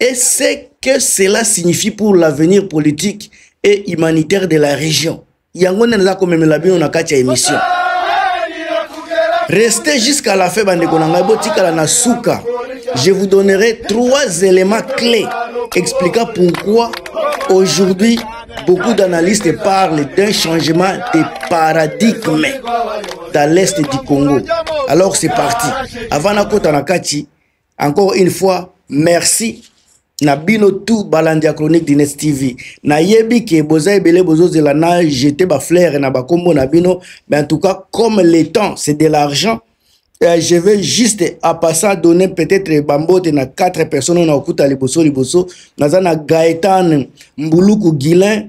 et ce que cela signifie pour l'avenir politique et humanitaire de la région yango nde naza komemela bino na kati ya émission restez jusqu'à la fin bandeko na ngai botikala na suka je vous donnerai trois éléments clés expliquant pourquoi aujourd'hui beaucoup d'analystes parlent d'un changement de paradigme dans l'est du Congo. Alors c'est parti. Avant Nakota Nakati, encore une fois merci na bino tout balandi ya chronique dines tv nayebi ke boza ebele bozozela na jete baflaire na bakombo na bino mais en tout cas comme le temps c'est de l'argent euh, je veux juste à passant donner peut-être bambote na quatre personnes na okuta liboso liboso naza na gaetan mbuluku guilin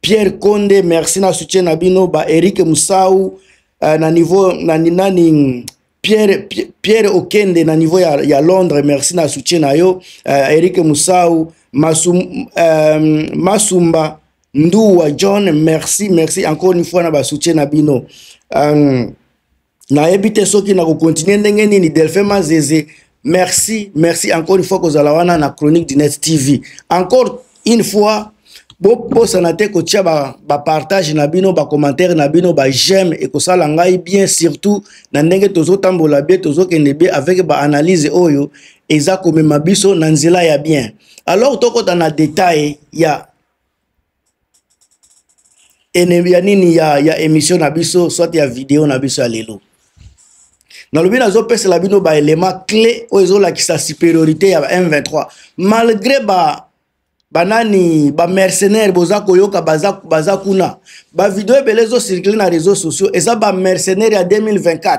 Pierre Konde merci na soutien na bino ba Eric Musau uh, na niveau na nani Pierre, Pierre Okende na niveau ya, ya Londres merci na soutien na yo uh, Eric Musau Masum, um, Masumba Nduwa John merci merci encore une fois na ba soutien na bino um, nayebi te soki nakokontinue ndenge nini delphin mazeze merci merci encore une fois kozala wana na chronique du net tv encore une fois bobosana te kotia bapartage ba na bino bacommentaire na bino bajeme ekosala ngai bien surtout na ndenge tozotambola bie tozokende bie avec baanalyse oyo eza komema biso na nzela ya bien alors tokota na detail ya ennemi ya nini ya, ya émission na biso soit ya video na biso ya lelo nalobi nazopesela bino baelema clé oyo ezolakisa supériorité ya m23 malgré ba banani bamercenaire boza koyoka baza, baza kuna bavideo ebele ezocircule na réseau sociaux eza bamercenaire ya 2024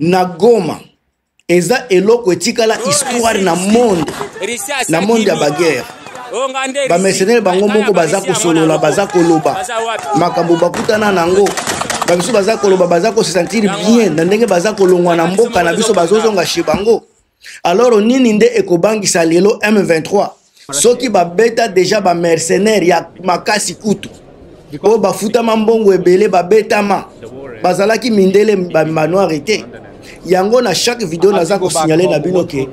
na goma eza eloko etikala oh, histoire na monde na monde ya baguerre oh, bamercenaire bango moko baza kosolola baza koloba makambo bakutana na yango bamisusu baza koloba baza kosesantire bien na ndenge baza kolongwa na mboka na biso bazozonga chez bango alors nini nde ekobangisa lelo m23 soki babeta deja bamercenaire ya makasi kutu oyo bafutama mbongo ebele babetama bazalaki mindele bamanoire te yango na chaque video naza kosignale na bino ke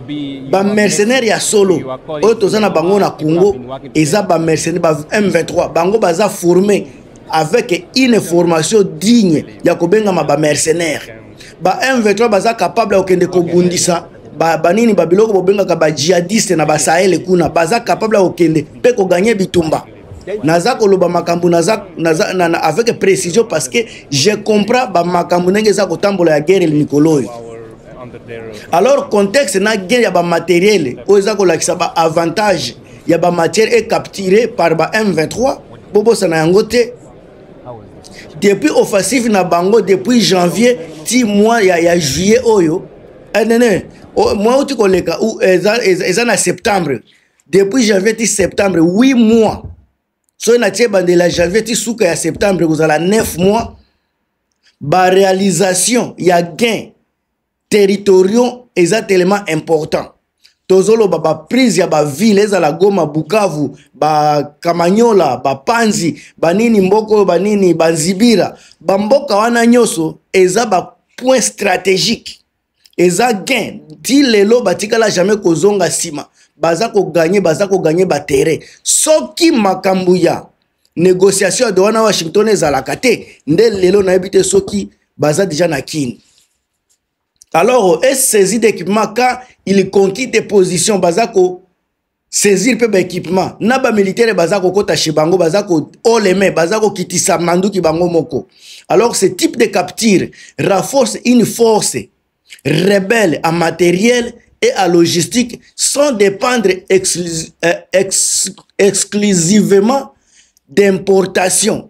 bamercenaire ya solo oyo toza na bango na congo eza bamercenaire ba m23 bango baza forme avec une formation digne ya kobengama bamercenaire ba M23 baza capable ya kokende kobundisa banini ba babiloko bobengaka bajihadiste na basahele kuna baza capable ya kokende mpe koganye bitumba naza koloba makambo naza, naza, na, na, avec précision parce que je comprends bamakambo ndenge eza kotambola ya guerre mikolo oyo alors contexte na guerre ya bamateriele oyo eza kolakisa baavantage ya bamatière ecapturé par ba m23 bobosana yango te depuis offensive na bango depuis janvier ti mois ya, ya juillet oyo eh, nene mois outi koleka eza, eza, eza na septembre depuis janvier ti septembre 8 mois soki natie bandela janvier ti suka ya septembre ekozala 9 mois barealisation ya gain territoriaux eza tellement important tozoloba baprise ya bavile ezala goma bukavu bakamanyola bapanzi banini mboka oyo banini banzibira bamboka wana nyonso eza bapoint stratégique eza gain ti lelo batikala jamais kozonga nsima baza koganye baza koganye batere soki makambo ya négociation ya dowana washington ezalaka te nde lelo nayebi te soki baza deja na kini alors est saisi d'équipement quand il conquit des positions baza ko saisir mpe baéquipement na bamilitaire baza kokɔta chez bango baza kooleme baza kokitisa manduki bango moko alors ce type de capture renforce une force rebelle en matériel et à logistique sans dépendre exclus, euh, ex, exclusivement d'importation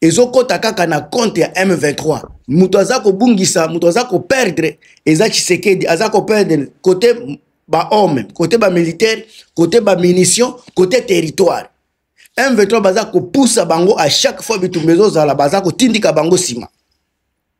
ezokota kaka na compte ya M23 moto aza kobungisa moto aza koperdre eza Tshisekedi aza koperdre kote bahomme kote bamilitaire kote bamunition kote territoire M23 baza kopusa bango a chaque fois bitumba ezozala baza kotindika bango nsima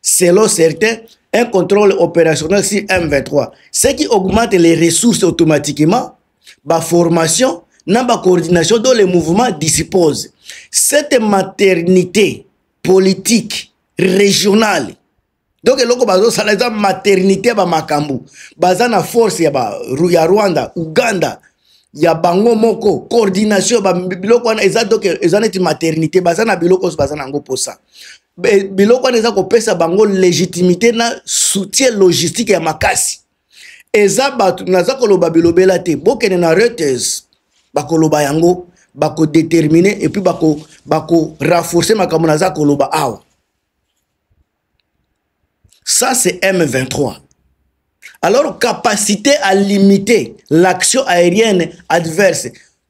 Selon certains, un contrôle opérationnel sur M23, ce qui augmente les ressources automatiquement, la formation, la coordination dont les mouvements disposent. Cette maternité politique régionale, donc eloko bazosala eza maternité ya bamakambo baza na force ya, ba, ya rwanda uganda ya bango moko coordination ya biloko wana eza, eza neti maternité baza na biloko oso baza na yango mposa biloko wana eza kopesa bango légitimité na soutien logistique ya makasi eza bato naza koloba bilobela te bokende na reuters bakoloba yango bakodetermine epuis bakorafforce bako makambo naza koloba awa ça c'est m23 alors capacité à limiter l'action aérienne adverse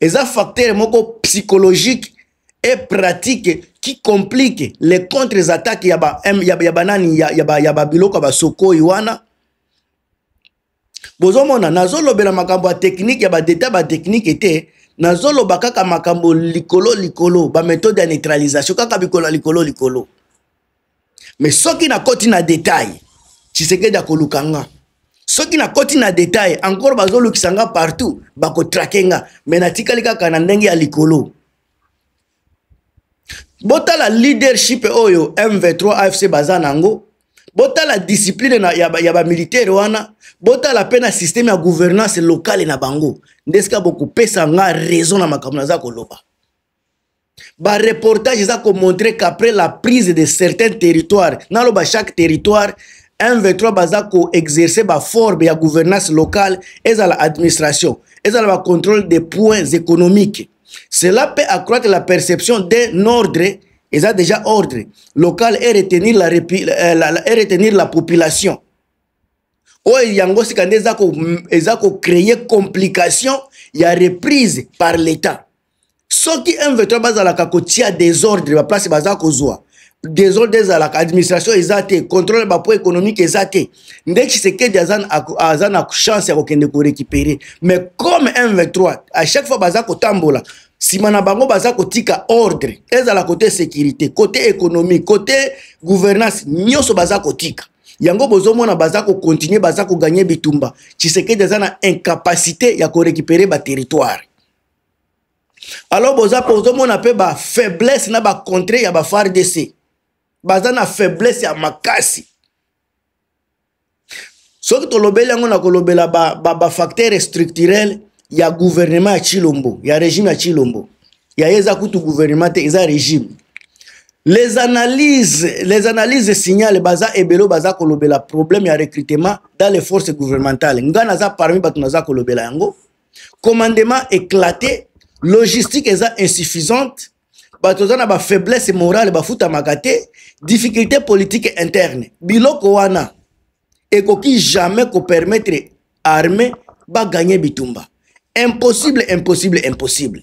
eza facteur moko psychologique et pratique qui complique les contre attaques ya ba ya, ya banani ya, ya, ba, ya babiloko ya basokoi wana bozomona nazolobela makambo ya technique ya badeta batechnike te nazoloba kaka makambo likolo likolo bamethode ya neutralisation kaka bikolo ya likolo likolo me soki nakoti na detail tshisekedi akoluka nga soki nakoti na detail encore bazolukisa nga partout bakotrake nga me natikali kaka na ndenge ya likolo botala leadership oyo m23 afc baza na yango botala discipline na, ya, ya bamilitaire wana botala mpe na systeme ya gouvernance locale na bango nde esika bokopesa nga raison na makambo naza koloba ba reportage eza ko montrer qu'après la prise de certains territoires naloba chaque territoire M23 baza ko exercer ba forme ya gouvernance locale ezala administration ezala ba contrôle des points économiques cela peut accroître la perception d'un ordre eza déjà ordre local et retenir la, euh, la, la, et retenir la population oyo yango sika nde eza ko créer complication ya reprise par l'état soki m23 bazalaka kotia desordre baplace baza kozwa desordre ezalaka administration eza te contrôle bapo économique eza te nde tshisekedi aza na chance ya kokende korécupere mais comme m23 à chaque fois baza kotambola nsima na bango baza kotika ordre ezala kote sécurité kote économique kote gouvernance nyonso baza kotika yango bozomona baza kokontinue baza koganye bitumba tshisekedi aza na incapacité ya korécupere baterritoire alors boza mpe ozomona mpe bafaiblesse na bacontre ya bafardc baza na faiblesse ya makasi soki tolobeli yango na kolobela bafacteur ba, ba structurel ya gouvernement ya chilombo ya régime ya chilombo ya ye eza kutu gouvernement te eza régime les analyses les analyses signale baza ebelo baza kolobela problème ya recrutement dans les forces gouvernementales ngai naza parmi bato naza kolobela yango commandement éclaté logistique eza insuffisante bato oza na bafaiblesse morale bafutamaka te difficulté politique interne biloko wana ekoki jamais kopermettre armée baganye bitumba impossible impossible impossible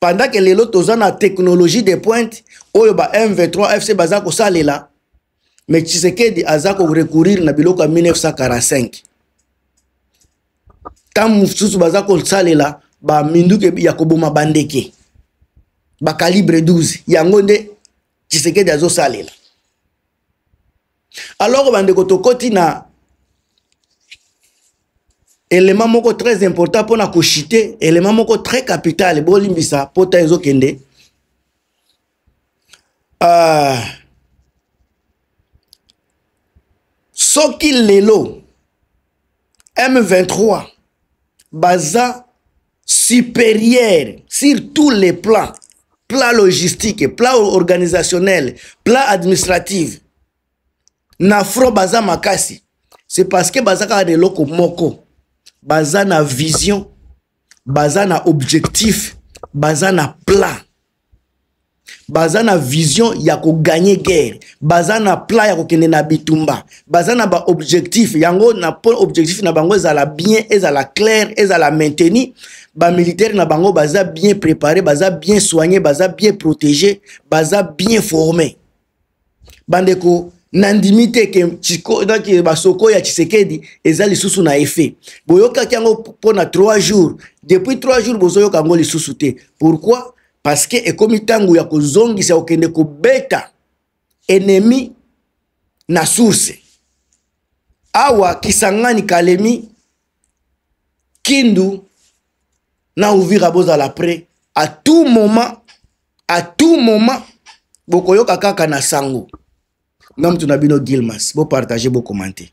pendant que lelo toza na technologie de pointe oyo ba mv3 fc baza kosalela mais tshisekedi aza korecourir na biloko ya 1945 ntango mosusu baza kosalela baminduki ya koboma bandeke bakalibre 12 yango nde tshisekedi azosalela alors bandeko tokoti na élément moko très important mpona kochite élément moko très capital bolimbisa pota ezokende uh, soki lelo M23 baza supérieur sur tous les plans plan logistique plan organisationnel plan administrative na front baza makasi c'est parce que baza kaka na eloko moko baza na vision baza na objectif baza na plan baza na vision ya koganye guerre baza na plan ya kokende na bitumba baza na baobjectif yango na po objectif na bango ezala bien ezala claire ezala mainteni bamilitaire na bango baza bien prépare baza bien soigne baza bien protégé baza bien forme bandeko nandimi te ke euh, basoko ya tshisekedi eza lisusu na effet boyokaki yango mpo na 3 jours depuis 3 jours bozoyoka yango lisusu te pourquoi parce que ekomi ntango ya kozongisa kokende kobeta ennemi na source awa kisangani kalemi kindu na uvira bozala près à tout moment à tout moment bokoyoka kaka na sango nga mutu na bino gilmas bopartage bocommente